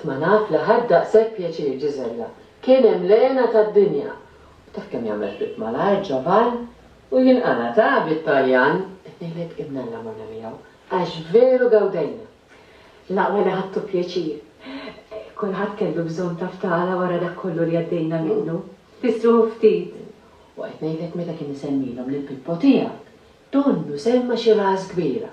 Tma' naf li ħadt daqshekk pjaċir Ġiżella. Kien hemm l-hena tad-dinja. U taf kemm jagħmel ftit malajr Ġovan? U jinqala' ta' bit-Taljan! Qed ngħidlek imnalla morna miegħu, għax veru gawdejna. L-aqwa li ħadtu pjaċir. Kulħadd kellu bżonn ta' ftala wara dak kollu li għaddejna minnu. Tistrieħu ftit. U qed ngħidlek meta kien isemmilhom lill-Pippo tiegħek, donnu semma xi ras kbira.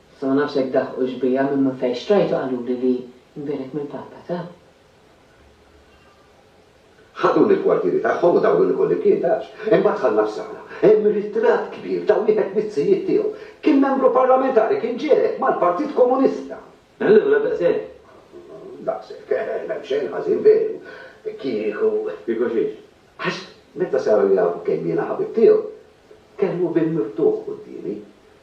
Issa ma nafx jekk daħqux bija minn minn fejn xtrajtu qaluli li nbiegħlek mill-Papa ta. Ħaduni l-kwartieri tagħhom u dawruni kullimkien taf. Imbagħad dħalna f'sala. Hemm ritratt kbir ta' wieħed miz-zijiet tiegħu. Kien membru parlamentari, kien ġiegħel mal-Partit Komunista. Allura daqshekk? Daqshekk. M'hemm xejn ħażin veru. Kieku. Kieku xiex? Għax meta saru jafu kemm jiena ħabib tiegħu, kellmu bieb miftuħ quddiemi.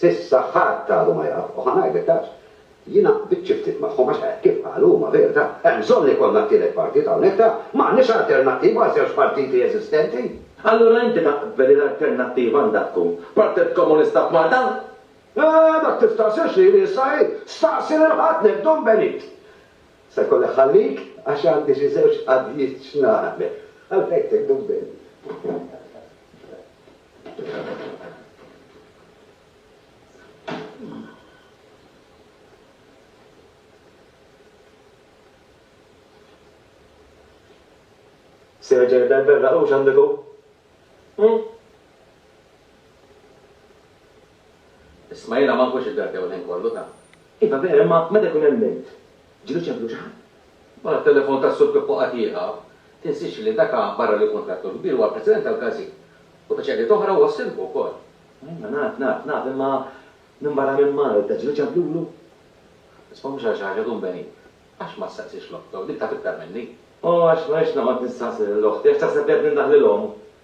S'issa ħadd għadu ma jaf, u ħa ngħidlek għax. Jiena qbidt xi ftit magħhom għax hekk kif qalu huma verita'. Hemm bżonn li jkollna t-tielet partit hawnhekk ta'. M'għandniex alternattiva għal żewġ partiti eżistenti. Allura inti taqbel li l-alternattiva għandha tkun Partit Komunista f'Malta? Eeh, dak tistaqsiex lili issa hi, staqsi lil ħadd lil Dun Benit. Se jkolli nħallik għax għandi xi żewġ qaddijiet x'nagħmel. Ħa ngħidlek Dun Benit. Serġer dal-berra u xandiku? Hmm? Isma jena ma nkunx id-dardew l-ħin kollu ta' Iva vera, ma meta kun hemm int, Ġieli ċemplu xi ħadd? Wara t-telefon tas-Sur Pippo Atieha, tinsiex li dak barra li jkun trattur kbir huwa l-President tal-Każin. U ta' xeghdiet oħra huwa s-Sindku wkoll. Iva, naf, naf, naf, imma minbarra minn Malta, ġieli ċemplulu? Isma' mhux għal xi ħaġa dun beni. Għax ma ssaqsix l-oħtok, dik taf iktar minni. O, għax ma rridx noqgħod nistaqsi lill-oħti, għax taħseb li qed nindaħ lilhom?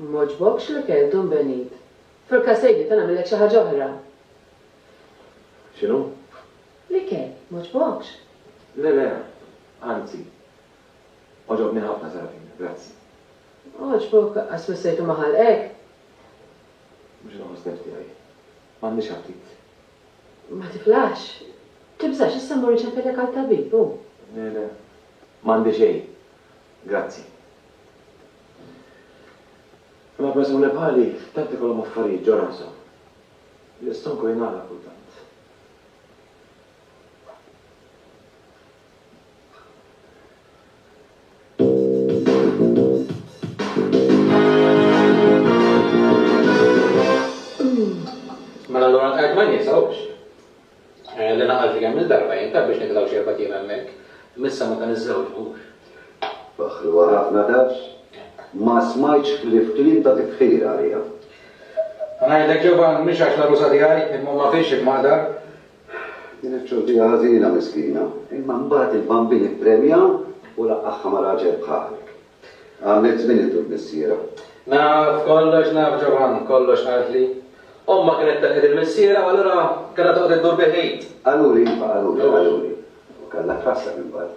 M'għoġbokx l-ikel, Dun Benit? Furka sejdi ta' nagħmillek xi ħaġa oħra. X'inhu? L-ikel, m'għoġbokx? Le, le, anzi. Għoġobni ħafna, Sarafina, grazzi. Għoġbok, għas missejtu maħal hekk? Mhux inħoss niftiegħi. M'għandix aptit. Ma tiklax? Tibżax, issa mmur inċempillek għal tabib, hu. Le, le. M'għandi xejn. Grazzi. Imma persuni bħali tant ikollhom affarijiet ġo rashom. L-istonku jingħalaq kultant. Mela allura nqegħed ma ninsawx eh, li naqalti kemm il-darba jien biex nitilgħu xi erba' hemmhekk. Missa ma ta' niżżewġux. Baħlu ħafna tafx? Ma smajtx ħlief kliem ta' tifħir għalija. Ngħidlek Ġovann mhix għax l-għarusa tiegħi imma ma fiex il-maqdar Din it-tjordija ħażina miskina, imma mbagħad il-bambin ippremja u laqqagħha ma' raġel bħalek. Għamilt żmien idur missierha. Naf kollox, naf Ġovann, kollox qaltli. Ommha kienet telqet il-missierha u allura kellha toqgħod iddur bi ħid. Qaluli, iva, qaluli, qaluli. U kellha tħasseb imbagħad.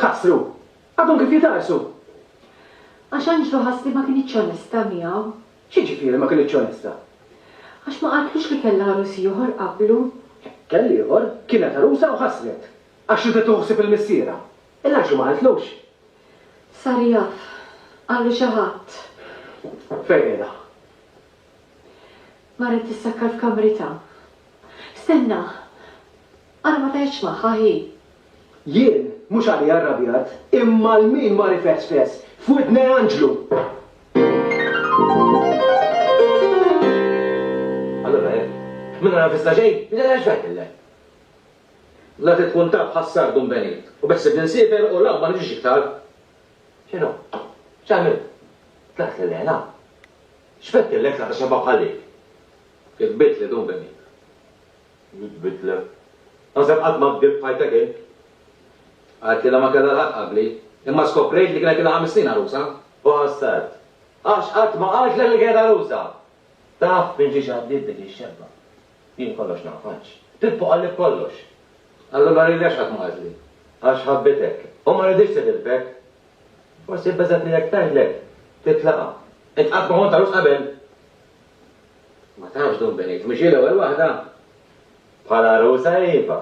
Kasru! Għadhom kif jitgħarsu! Għax Anġlu ħass li ma kinitx onesta miegħu. X'jiġifieri ma kinitx onesta? Għax ma qaltlux li kellha għarus ieħor qablu. Kell ieħor, kienet għarusa u ħassret. Għax ridet tieħu ħsieb il-missierha. Il Anġlu ma qaltlux? Sar jaf. Qallu xi ħadd. Fejn qiegħda? Marret tissakkar f'kamritha. Stenna! Ara ma tgħidx magħha hi. Jien mhux għalija rrabjat, imma għal min mar ifesfes f'widne anġlu! Allura jekk min ara f'issa xejn, jidhirha x'tgħidilha? La trid tkun taf ħassar Dun Benit, u beħsibni nsiefer u l-għaqba ma niġix iktar. X'inhu? X'għamilt? Tlaqt lil hena? X'fettillek tlaqt għax imma bħal dik? Kitbitli Dun Benit. nitbidlek. Tassew qatt ma kdibt f'ħajtek int. Qaltilha ma kellha l-ħaqq qabli, imma skoprejt li kienet ilha ħames snin għarusa. Bastard! Għax qatt ma qaltlek li kienet għarusa! Taf minn xiex għaddiet dik ix-xebba? Jien kollox nafhx. Pippo qalli b'kollox. Allura lili għax qatt ma qaltli? Għax ħabbitek u ma riditx tidilbek? Forsi bbeżgħet li jekk tgħidlek, titlaqha. Int qatt ma kont għarus qabel? Ma tafx dun binit, mhux hi l-ewwel waħda? Bħal għarusa hi iva.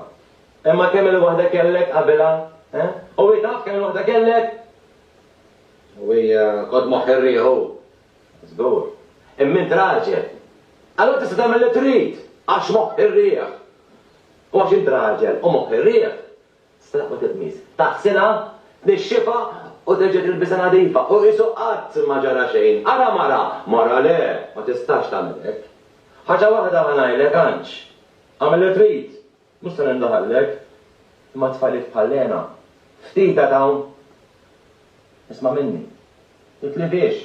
Imma kemm il-waħda kellek qabilha, eh? U hi taf kemm il-waħda kellek? U hi kod moħħ ir-riħ hu. Żgur. Imma int raġel. Allura tista' tagħmel li trid għax moħħ ir-riħ. U għax int raġel u moħħ ir-riħ, Straqwa tiqmis. Taħsilha, tnixxifha u terġa' tilbisha nadifa u qisu qatt ma ġara xejn. Ara mara! Mara le, ma tistax tagħmel hekk. Ħaġa waħda ħa ngħidlek, Anġ. Agħmel li trid, mhux se nindaħallek. Imma tfajliet bħal Lena, ftit għad hawn. Isma' minni. Titlibiex.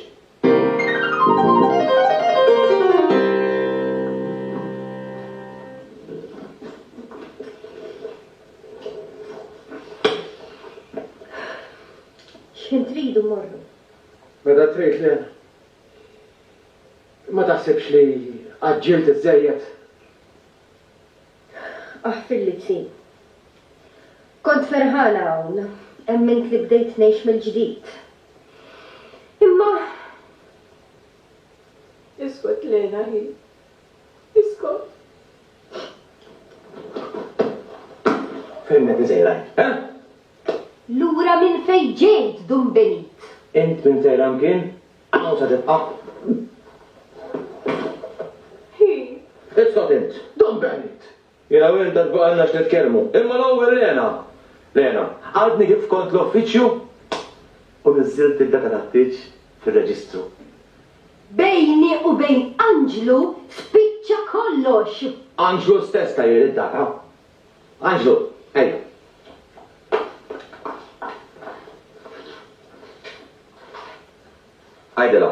X'ħin tridu mmorru? Meta trid le. Ma taħsibx li għaġġilt iżżejjed? Aħ fillitsi. Kont ferħana hawn, emmint li bdejt ngħix mill-ġdid. Imma. Iskot Lena ħi. Iskot. Fejn qed insejrajk, ha? Lura minn fejn ġejt, Dun Benit? Int minn Sejran kien? Hawn se tibqa'. Hi. Isqat int. Dan Bennett! Jiena u int għad baqgħalna x'nitkellmu. Imma l-ewwel Lena! Lena, għadni kif kont l-uffiċċju u niżżilt id-data tat-tieġ fir-reġistru. Bejni u bejn Anġlu spiċċa kollox! Anġlu stess kajjel id-data. Anġlu, ejja. Għidilha.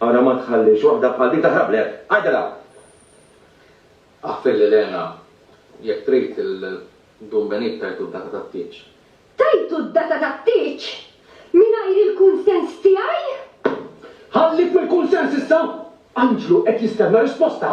Ara ma tħallix waħda bħal din taħrab lek. Għidilha! Aħfilli Lena, jekk trid il-Dun Benit tajtu d-data tat-tieġ. Tajtu d-data tat-tieġ? Mingħajr il-kunsens tiegħi? Ħallik mill-kunsens issa! Anġlu qed jistenna risposta!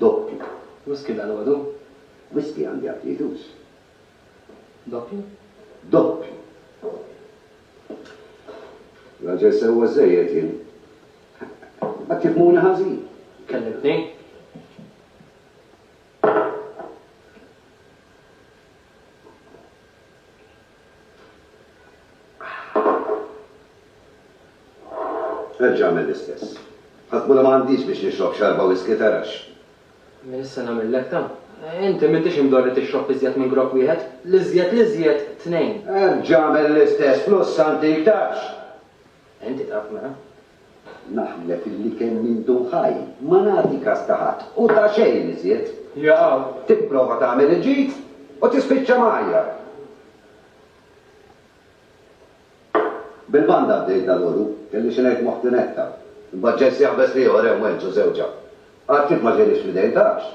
Doppju. Whisky dalgħodu? Whisky għandi għal tliet ux. Doppju? Doppju. Raġel sewwa żżejjed jien. Ma tifhmuni ħażin. Kellimtni? Erġa' agħmel l-istess. Ħadd mhu li ma għandix biex nixrob xarba whisky, tarax. Min issa nagħmillek ta'? Inti m'intix imdorr li tixrob iżjed minn grokk wieħed, l-iżjed l-iżjed tnejn. Erġa' agħmel l-istess, flussa antik, tarax. Inti taf mela? Naħlef illi kemm intu ħaj, ma nagħti kas ta' ħadd, u ta' xejn iżjed. Jaaw! Tipprova tagħmel il-ġid u tispiċċa mgħajjar. Bil-banda għaddejt dalgħodu, kelli xi ngħid ma' ħti Netta. Imbagħad ġej sieħbes l-ieħor hemm Wenz u żewġha. Għad kif ma ġielix fl-idejn tafx.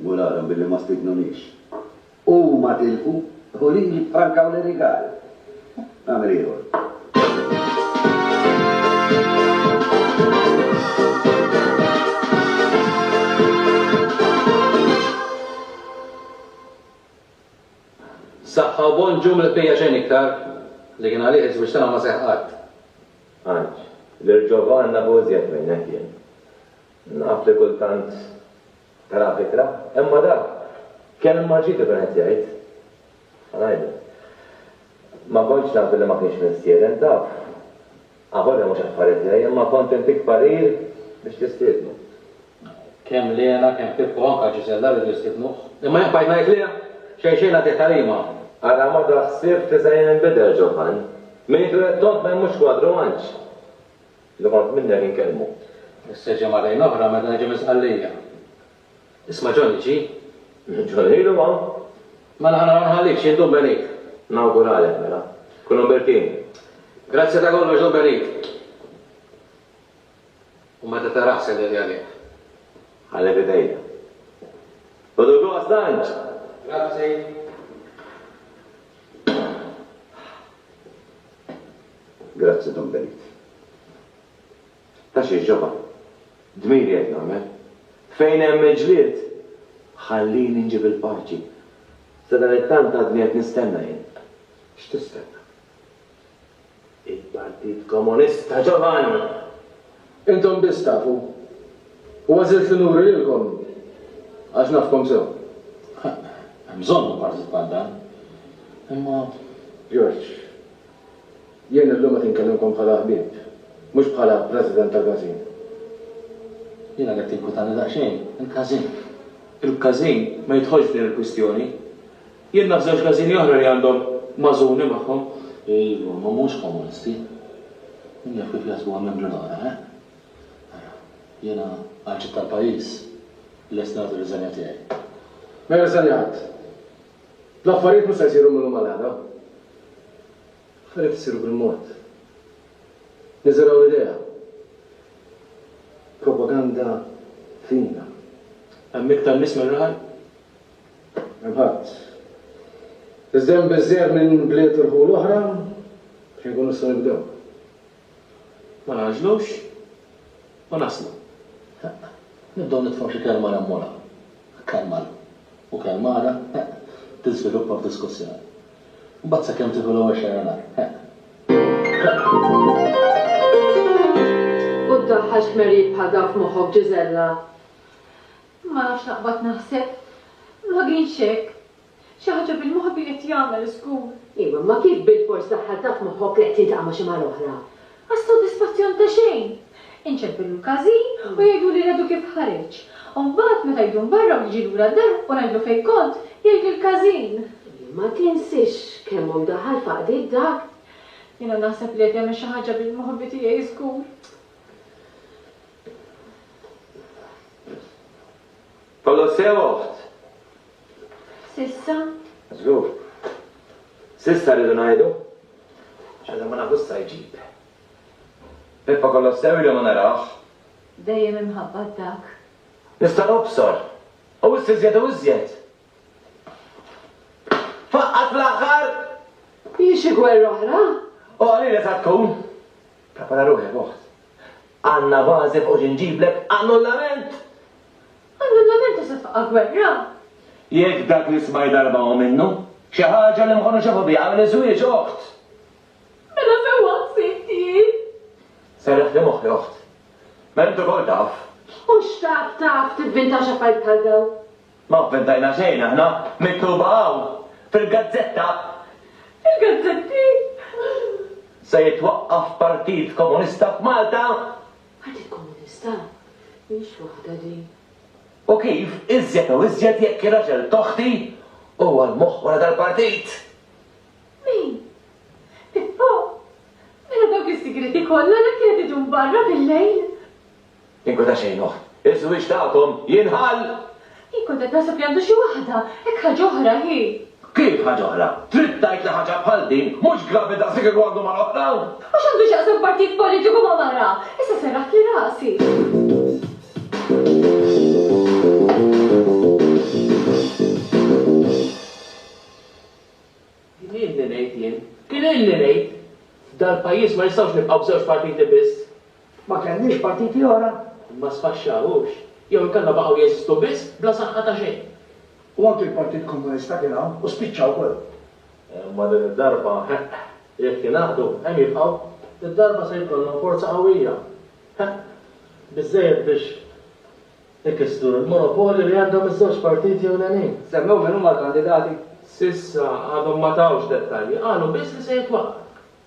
Murarhom billi ma stidnunix. Huma tilfu u li jifrankaw l-irigal. Nagħmel ieħor. Saħħa u Bonġu mill-qbija xejn iktar, li kien għalih iż-żwieġ tagħna ma seħħ qatt. Għanġ, lil Ġovanna hu iżjed minnek jien. Naf li kultant taraha bikra, imma dak kemm ma ġiet ikun qed jgħid. Issa ngħidlek. Ma kontx naf billi ma kienx mistieden, taf. Avolja mhux affarijiet tiegħi, imma kont intik parir biex tistiednu. Kemm Lena, kemm Pippo u anke Gisella riedu jistiednuh. Imma jien bqajt ngħid lih, Xejn xejn għaddiet tarima. Ara ma taħsibx li se jinbidel Ġofann. Min ikun qed tgħodd ma jmurx kwadru għandx. Li kont minnek inkellmu. Issa ġie marrejn oħra meta niġi minn Sqallija. Isma' Johnny ġie? Johnny ilu hawn. Mela ħa nara nħallik x'jien Dun Benit. Nawguralek mela. Kun Umbertin. Grazzi ta' kollox Dun Benit. U meta tarah sellem li għalih. Ħalli f'idejja. Ħodu gost tant! Grazzi. Grazzi Dun Benit. Ta' xiex ġabha. Dmiri qed nagħmel. Fejn hemm il-ġlied, ħallini nġib il-paċi. Sadanittant għadni qed nistenna jien. X'tistenna? Il-Partit Komunista, Giovanni! Intom biss tafu. U għażilt li nuri lilkom għax nafkom sew. Hemm bżonn ta' partit bħal dan. Imma. George, Jien illum qed inkellimkom bħala ħbieb, mhux bħala President ta' każin. Jiena qed tinkwitani daqsxejn il-każin. Il-każin ma jidħolx f'din il-kwistjoni. Jien naf żewġ każini oħra li għandhom Mażuni magħhom. Iva, ma mhumiex komunisti. Min jaf kif jaħsbuha membri l-oħra, eh? Ara, jiena għal ġid tal-pajjiż lest nagħti r-riżenja tiegħi. Ma jirriżenja ħadd. L-affarijiet mhux se jsiru mil-lum għal għada. L-affarijiet isiru bil-mod. Niżergħu l-idea. Propaganda fina. Hemm iktar nies mir-raħal? Hemm ħadd. Iżda hemm biżżejjed minn bliet u rħul oħra biex inkunu nistgħu nibdew. Ma nagħġlux u naslu. Nibdew nidħlu f'xi kelma remmola, kalmal, u kalmara tiżviluppa f'diskussjoni. Imbagħad sakemm tieħu l-ewwel xerranar. U ddaħħal xmerriet bħal dawn f'moħħok, Ġiżella? Ma nafx naqbad naħseb. Ma kienx hekk. Xi ħaġa bil-moħħ bi qed jagħmel u żgur. Iva, imma kif bilfors daħħalt taf moħħok li qed tiltaqa' ma' xi mara oħra? Għas-sodisfazzjon ta' xejn! Inċempillu l-każin u jgħiduli l-għedu kif ħareġ. U mbagħad meta jidum barra u jiġi lura d-dar u ngħidlu fejn kont, jgħidli l-każin. Ma tinsiex kemm omm daħal faqdiet dak? Jiena naħseb li qed jagħmel xi ħaġa bil-moħħ bi tiegħi żgur. Kollox sew oħt? S'issa? Żgur. S'issa rridu ngħidu? X'għadna ma nafu x'sa jġib. Pippa kollox sew ili ma narawh. Dejjem imħabbat dak. Nista' nobsor. U wisq iżjed u iżjed. Faqqat fl-aħħar! Hi xi gwerra oħra? U qalili sa tkun. Prepara ruħek oħt. Għandna bażi fuq xi nġiblek annullament! Annullament ta' safqa gwerra? Jekk dak li smajt darba hu minnu, xi ħaġa li m'ħodu xafu biha hu li żwieġ oħt! Mela fejn hu għassibt jien? Serraħt li moħħi oħt. Mela int ukoll taf. U x'taf taf tivvintax affarijiet bħal dawn? Ma vvintajna xejn aħna, miktuba hawn, fil-gazzetta! Fil-gazzetti? Se jitwaqqaf partit komunista f'Malta? Partit Komunista? Mhix waħda din. U kif, iżjed u iżjed jekk ir-raġel t'oħti huwa l-moħħ wara dal-partit! Min? Pippo? Mela dawk is-sigrieti kollha li kienet idum barra bil-lejl? Inkun ta' xejn oħt, iż-żwieġ tagħkom jinħall! Jien kont qed naħseb li għandu xi waħda, hekk ħaġa oħra hi. Kif ħaġa oħra? Trid tgħid li ħaġa bħal din mhux gravi daqs li kieku għandu mara oħra? U x'għandu x'jaqsam partit politiku ma' mara? Issa serraħtli rasi. Kien ilni ngħid jien, kien ilni ngħid! F'dal-pajjiż ma nistgħux nibqgħu b'żewġ partiti biss. Ma kellniex partiti oħra, imma sfaxxaw hux, jew inkella baqgħu jeżistu biss bla saħħa ta' xejn. U anki l-Partit Komunista kien hawn u spiċċa wkoll. Imma din id-darba, heq, jekk jingħaqdu, hemm jibqgħu. Id-darba se jkollhom forza qawwija, heq, biżżejjed biex ikissru l-monopolju li għandhom iż-żewġ partiti ewlenin. Semmew min huma l-kandidati? S'issa għadhom ma tawx dettalji, qalu biss li se jitwaqqaf.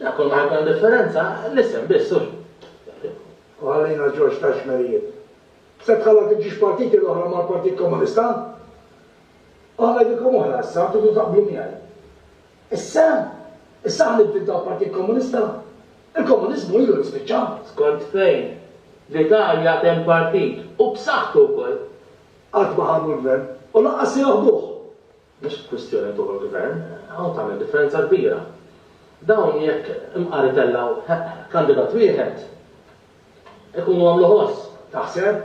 Jekk kull ma jkun differenza, l-isem biss hu. U ħallejna Ġorġ tax-xmerijiet. Se tħalla tiġix partiti l-oħra mal-Partit Komunista? U ngħidilkom oħra issa, tridu taqblu miegħi. Issa? Issa ħa nibdil tal-Partit Komunista? Il-komuniżmu ilu li spiċċa. Skont fejn? Fl-Italja għad hemm partit, u b'saħħtu wkoll. Qatt ma ħadu l-gvern, u lanqas se joħduh. Mhix kwistjoni li tuħu l-Gvern, hawn tagħmel differenza kbira. Dawn jekk imqar itellgħu kandidat wieħed, ikunu għamlu ħoss. Taħseb?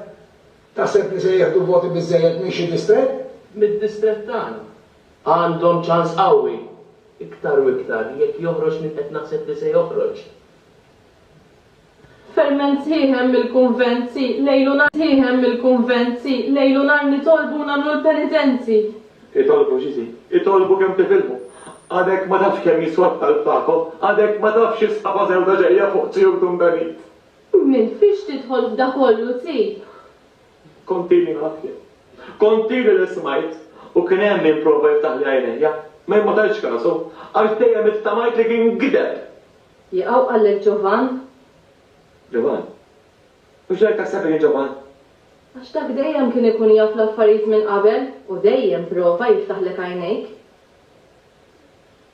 Taħseb li se jieħdu voti biżżejjed minn xi distrett? Mid-distrett tagħna. Għandhom ċans qawwi. Iktar u iktar jekk joħroġ min qed naħseb li se joħroġ. Ferment Sħiħem mill-Kunvent Si lejl u nhar Sħiħem mill-Kunvent Si lejl u nhar Nitolbu u nagħmlu l-penitenzi. Itolbu xi si Itolbu kemm tifilħu Għadek ma tafx kemm jiswa t-talb tagħkom Għadek ma tafx x'isħaba sewda ġejja fuq t-tjur Dumbenit. Min fiex tidħol f'da kollu si. Kontili naf jien Kontili li smajt U kien hemm min prova jiftaħli għajnejja Ma jien ma tajtx kasu Għax dejjem ittamajt li kien gideb. Jaqaw qallek Ġovann? Ġovann? U x'ġara taħseb inhi Ġovann? Għax dak dejjem kien ikun jaf l-affarijiet minn qabel u dejjem prova jiftaħlek għajnejk.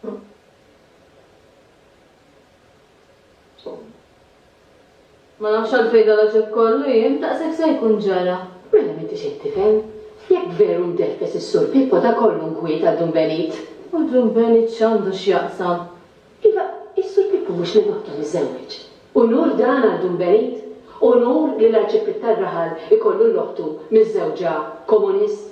Ġovann. Ma nafx għalfejn dan l-għaġeb kollu jien, daqshekk se jkun ġara. Mela m'intix qed tifhem? Jekk veru ndeffes is-Sur Pippo ta' kollu nkwiet għal Dun Benit. U Dun Benit x'għandu x'jaqsam? Iva, is-Sur Pippo mhux li maħtu miżżewweġ. Unur dan għal Dun Benit? Unur li l-Arċipriet tar-raħal ikollu 'l oħtu miżżewġa komunist?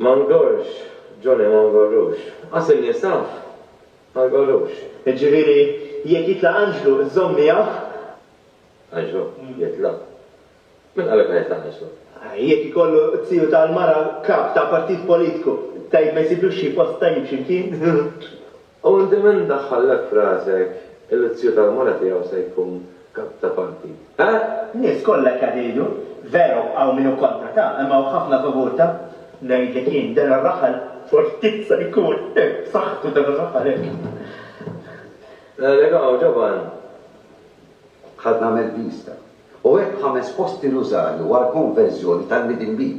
Ma ngorrx, Johnny, ma ngorrux. Qas in-nisa? Ma ngorrux. Jiġifieri, jekk jitlaq Anġlu, iżżomm miegħek? Anġlu? Jitlaq? Min qalek ma jitlaq Anġlu? Jekk ikollu t-tiju tal-mara kap ta' partit politiku, tgħid ma jsibluxx xi post tajjeb xi mkien? Hawn inti min daħħallek f'rasek illi t-tiju tal-mara tiegħu se jkun kap ta' partit? Eh? N-nies kollha hekk qed jgħidu. Veru, hawn min hu kontra ta', imma hawn ħafna favur ta'. Ngħidlek jien, dan ir-raħal fortit se jkun, eh, b'saħħtu dan ir-raħal hekk. Ngħidlek hawn, ġoban. Ħadna mill-pista. U hekk ħames posti nużalu għall-konverżjoni tal-midinbin.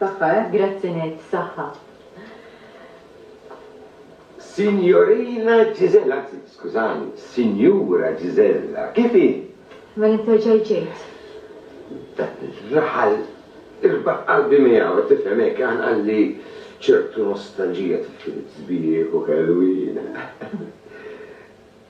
Saħħa eh? Grazzi ngħid saħħa. Sinjorina Gisella, anzi, skużani, Sinjura Gisella, kif hi? Mela interġaj ġejt. Raħal irbaħ qalbi miegħu qed tifhem hekk għan qalli ċertu nostalġija tifil sbieħ u kelwina.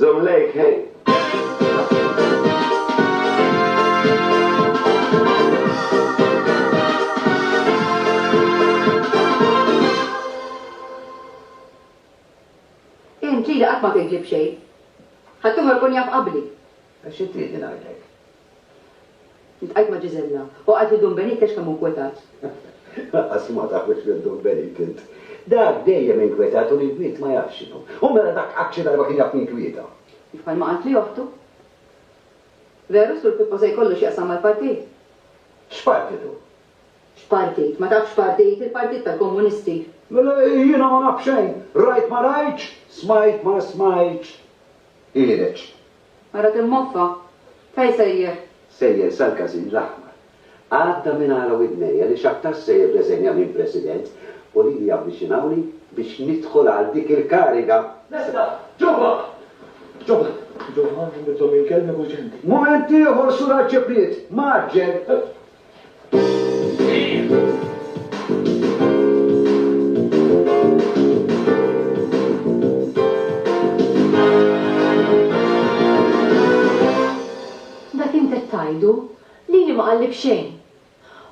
Żomm lejk ħin. Int lili qatt ma tgħidli b'xejn. Ħaddieħor ikun jaf qabli. Xi trid li ngħidlek? Iltqajt ma' Gisella u qalt li Dun Benik għax kemm hu nkwetat. Lanqas ma taf biex lil Dun Benik int. Dak dejjem inkwetat u l-inkwiet ma jafx x'inhu. U mela dak qatt xi darba kien jaf ninkwieta? Bħalma qalt li oħtu. Veru Sur Pippo se jkollu x'jaqsam mal-partit? X'partit hu? X'partit? Ma tafx x'partit? Il-Partit tal-Komunisti. Mela jiena ma naf xejn. Rajt ma rajtx, smajt ma smajtx. Ħiereġ. Ara kemm moffa! Fejn sejjer? Sejjer sal-Każin l-Aħmar. Għadda minn għala widnejja li x'aktarx se jirreżenja minn President u lili javviċinawni biex nidħol għal dik il-kariga. Lesta! Ġobha! Ġobha! Ġobha, nbidlhom il-kelmi b'urġenti. Mument ieħor, Sur Għaġġepiet! Mgħaġġel! Dak int qed tgħidu? Lili ma qalli b'xejn!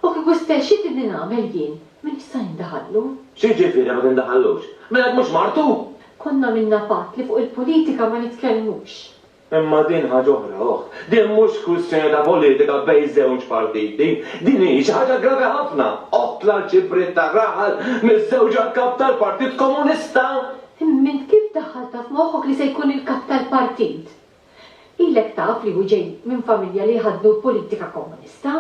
U kieku stgħixxiet li din nagħmel jien, min jista' jindaħallu? X'jiġifieri ma tindaħallux? Mela hekk mhux martu? Konna għamilna patt li fuq il-politika ma nitkellmux. Imma din ħaġa oħra, oħt. Din mhux kwistjoni ta' politika bejn żewġ partiti. Din hi xi ħaġa gravi ħafna, oħt l-Arċipriet tar-raħal miżżewġa l-Kap tal-Partit Komunista! Imma int kif daħħaltha f'moħħok li se jkun il-Kap tal-Partit? Ilek taf li hu ġej minn familja li jħaddnu l-politika Komunista?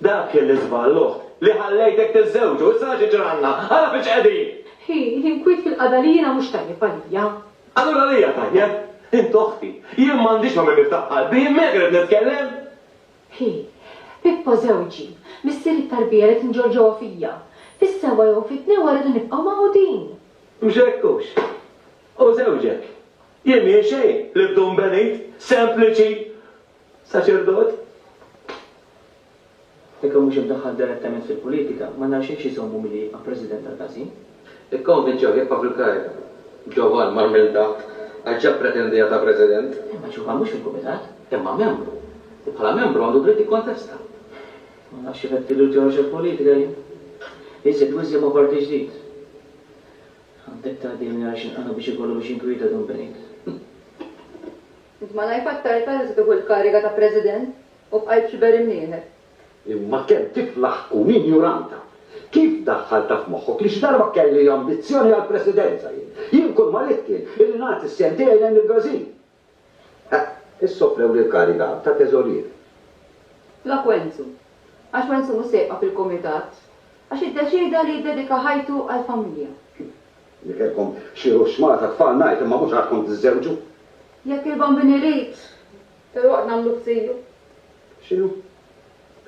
Dak kien l-iżball, l-uħt, li ħallejtek tiżżewġu. Issa ara xi ġralna! Ara fin x'qegħdin! Hi, l-inkwiet fil-qagħda li jiena mhux tajjeb għalija. Allura għalija tajjeb! Int oħti. Jien m'għandix ma' min niftah qalbi, jien miegħek irrid nitkellem! Hi, Pippo żewġi, missieri t-tarbija li tinġorr ġewwa fija. Fis-sewwa jew fit-tnewwa rridu nibqgħu magħqudin! Mhux hekk hux? Hu żewġek. Jien mhi xejn, l-ibdun benit, sempliċi, Saċerdot? Jekk hu mhux imdaħħal direttament fil-politika, m'għandha xejn x'iżommu milli jibqa' President tal-Każin. Ikkonvinċew jekk Pavlu Kajr, ġovan mgħarmel daqq, għax ġab pretendija ta' President. Imma ġovan mhux fil-Kumitat. Imma membru. U bħala membru għandu dritt jikkontesta. Ma nafx kif qed tilluġġew xi politika jien. Iżjed u iżjed ma parti ġdid. Għandek tgħaddini nara x'inqanaq biex ikollu biex jinkwieta Dun Benit. Int malajr fattarta li se tieħu l-kariga ta' President u bqajt xiber imnieħer. Imma kemm tiflaħ tkun injuranta! Kif daħħaltha f'moħħok li xi darba kelli ambizzjoni għall-Presidenza jien? Jien kull ma ridt kien illi nagħti s-sehem tiegħi lejn il-Brażil. Eħ, issa offrewli l-kariga ta' Teżorier. Flok Wenzu. Għax Wenzu mhux se jibqa' fil-Kumitat. Għax iddeċieda li jiddedika ħajtu għall-familja. Li kellkom xi ruxx mara ta' tfal ngħid imma mhux għadkom tiżżewġu. Jekk il-Bambin irid, filwaqt nagħmluh ziju. X'inhu?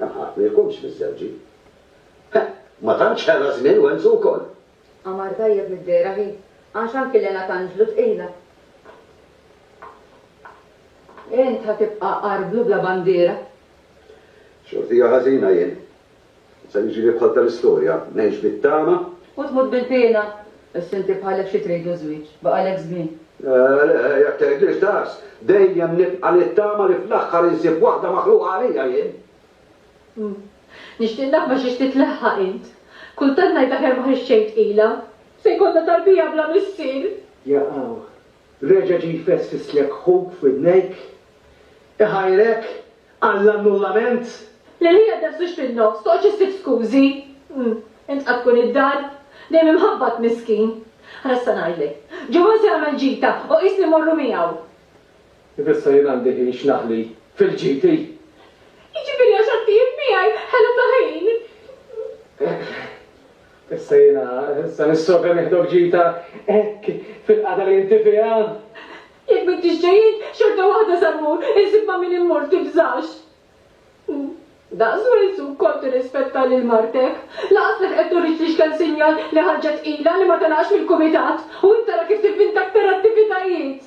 Hemm ħadd ma jkunx miżżewġi. Heh, ma tantx ħela żmien Wenzu wkoll. Qamar tajjeb mid-dehra hi, għax anki Lena Tanglu tqila. Int ħa tibqa' għar blu bla bandiera. Xortija ħażina jien. Se niġi nibħalta l-istorja, ngħix bit-tama. U tmut bil-piena. Issa inti bħalek xi trid iż-żwieġ, baqalek żmien. Le, le, jekk tgħidlix daqs, dejjem nibqa' nittama li fl-aħħar insib waħda maħluqa għalija jien. Hm. Nixtieq naf ma' xiex titlaħħaq int. Kultant ngħid aħjar ma ħriġtx xejn tqila. Se jkollna tarbija bla missier. Jaqaw. Reġa' ġie jfessfislek ħuk f'widnejk? Iħajrek għall-annullament? Li ħajja tnefsux fin-nofs, toqgħodx issib skużi. Hm, int qatt tkun id-dar? Dejjem imħabbat, miskin. Ara issa ngħidlek. Ġewwa se jagħmel ġita u qis li mmorru miegħu. Kif issa jien għandi ħin x'naħli fil-ġiti? Jiġifieri għax għaddijin miegħi ħelu ta' ħin? Issa jiena, issa nissogra nieħdok ġita hekk fil-qagħda li inti fiha? Jekk m'intix ġejjin, xorta waħda sa mmur, insib ma' min immur, tibżax. Daqs Wilsu wkoll tirrispetta lil martek. Lanqas lek qed turitli x'kemm sinjal li ħarġet tqila li ma telgħax mill-kumitat. U int ara kif tivvinta aktar attivitajiet!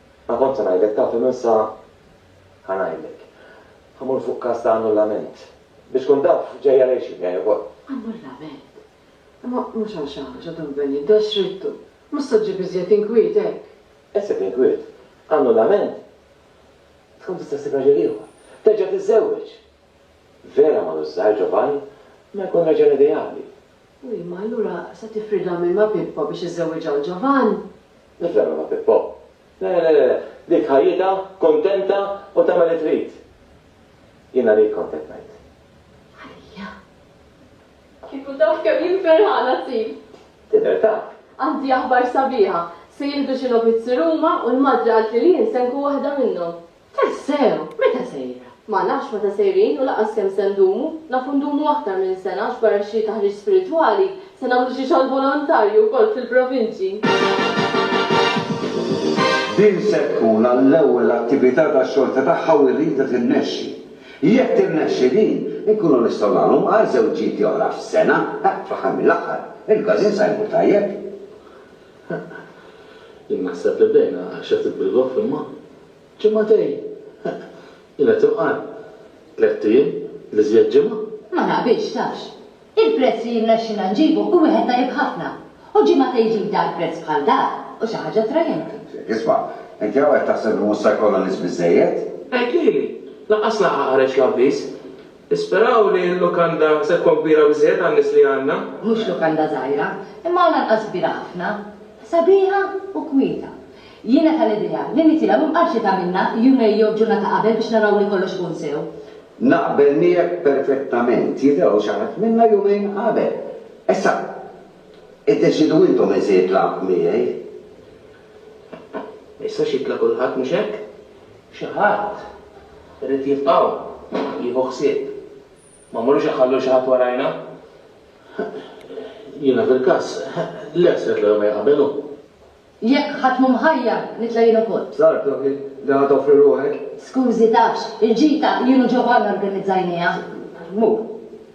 Ma kont se ngħidlek taf imma issa ħa ngħidlek. Ħa mmur fuq każ ta' annullament. Biex tkun taf, ġej għaliex jien ġej ukoll. Annullament? Imma mhux għal xi ħaġa, Don Bennie, dax ridtu. Mhux se ġġib iżjed inkwiet hekk. Iżjed inkwiet? Annullament? Tkun tista' ssib raġel ieħor. Terġa' tiżżewweġ. Vera ma' Lus Żgħir, Ġovanni, ma jkun raġel ideali. U imma allura se tifridha minn ma' Pippo biex iżżewwiġha 'l Ġovann? Żżarrab ma Pippo. Le, le, le, le, dik ħajjitha kuntenta u tagħmel li trid. Jiena li kont qed ngħid. Għalija. Kieku taf kemm jien ferħana, Tim! Tidher ta'. Għandi aħbar sabiħa. Se jieħdu xi logħbiet Sir Uma u l-madre qaltli li jien se nkun waħda minnhom. Tassew! Meta sejra? Ma nafx meta sejrin u lanqas kemm se ndumu. Nafu ndumu aktar minn sena għax barra xi taħriġ spiritwali, se nagħmlu xi xogħol volontarju wkoll fil-provinċji. Din se tkun għall-ewwel attività ta' xorta tagħha u rridha tinnexxi. Jekk tinnexxi din, inkunu nistgħu nagħmlu mqar żewġieti oħra f'sena, fl-aħħar mill-aħħar, il-każin sa jmur tajjeb. Heq. Jien naħseb li bdejna xi ftit bil-goff imma. Ġimagħtejn! Heq. Jien qed inqarr. Tlett ijiem, l-iżjed ġimgħa. Ma naqbilx, tafx. Il-prezz li jirnexxilna nġibu hu wieħed tajjeb ħafna. U ġimagħtejn jġib dar b'prezz bħal dak hu xi ħaġa attrajenti. Ġifieri, isma', inti hawn qed taħseb li mhux se jkollna nies biżżejjed? Heq, Lili! Lanqas laqgħa qareġ l-avviż. Nisperaw li l-lukanda se tkun kbira biżżejjed għan-nies li għandna. Mhux lukanda żgħira, imma għalanqas kbira ħafna. Sabiħa u kwieta. Jiena tal-idea li nitilgħu imqarrxita minnha jumej jew ġurnata qabel biex naraw li kollox ikun sew. Naqbel miegħek perfettament. Jitilgħu xi ħadd minna jumejn qabel. Issa, iddeċiedu intom min se jitlaq miegħi. Ma jistax jibla' kulħadd, mhux hekk? Xi ħadd irid jibqa' u jieħu ħsieb. Ma mmorrux inħallu lil xi ħadd warajna? Jiena fil-każ, le, se nitla' jumejn qabel u. Jekk ħadd mhu mħajjar, nitla' jien ukoll. Żgħar proprju li ħa toffri ruħek? Skużi, tafx, il-ġita jien u Giovanna organizzajnieha. Mur.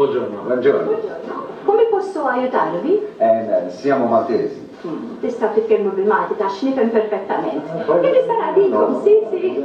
Buongiorno. Buongiorno. Come posso aiutarvi? Eh, siamo maltesi. Tista' titkellmu bil-Malti ta' x'nifhem perfettament. Jien nista' ngħadilkom, si, si.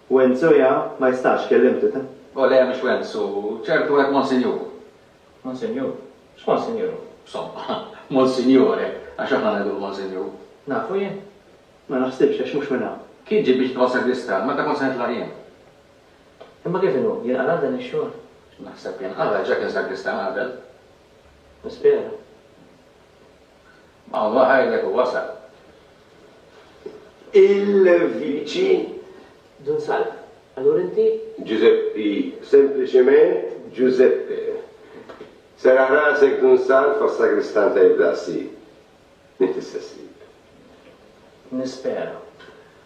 Wenzu ja, ma jistax, kellimt it. O le, mhux Wenzu, ċertu hekk Monsinjur. Monsinjur? X'Monsinjur hu? Somma, Monsinjore, għax aħna ngħidu l-Monsinjur. Nafu jien? Ma naħsibx, għax mhux minn hawn. Kien ġie biex jitfa' sagristan, meta kont se nitlaq jien. Imma kif inhu, jinqala' dan ix-xogħol? Naħseb jinqala', diġà kien sagristan qabel. Nispera. Alla għajnek u wasal. Il-Viċi Dun Sal. Allura inti? Ġużeppi, sempliċement Ġużeppe. Serraħ rasek Dun Sal fas-sagristan tajjeb daqsi. Inti s-sessib. Nispera.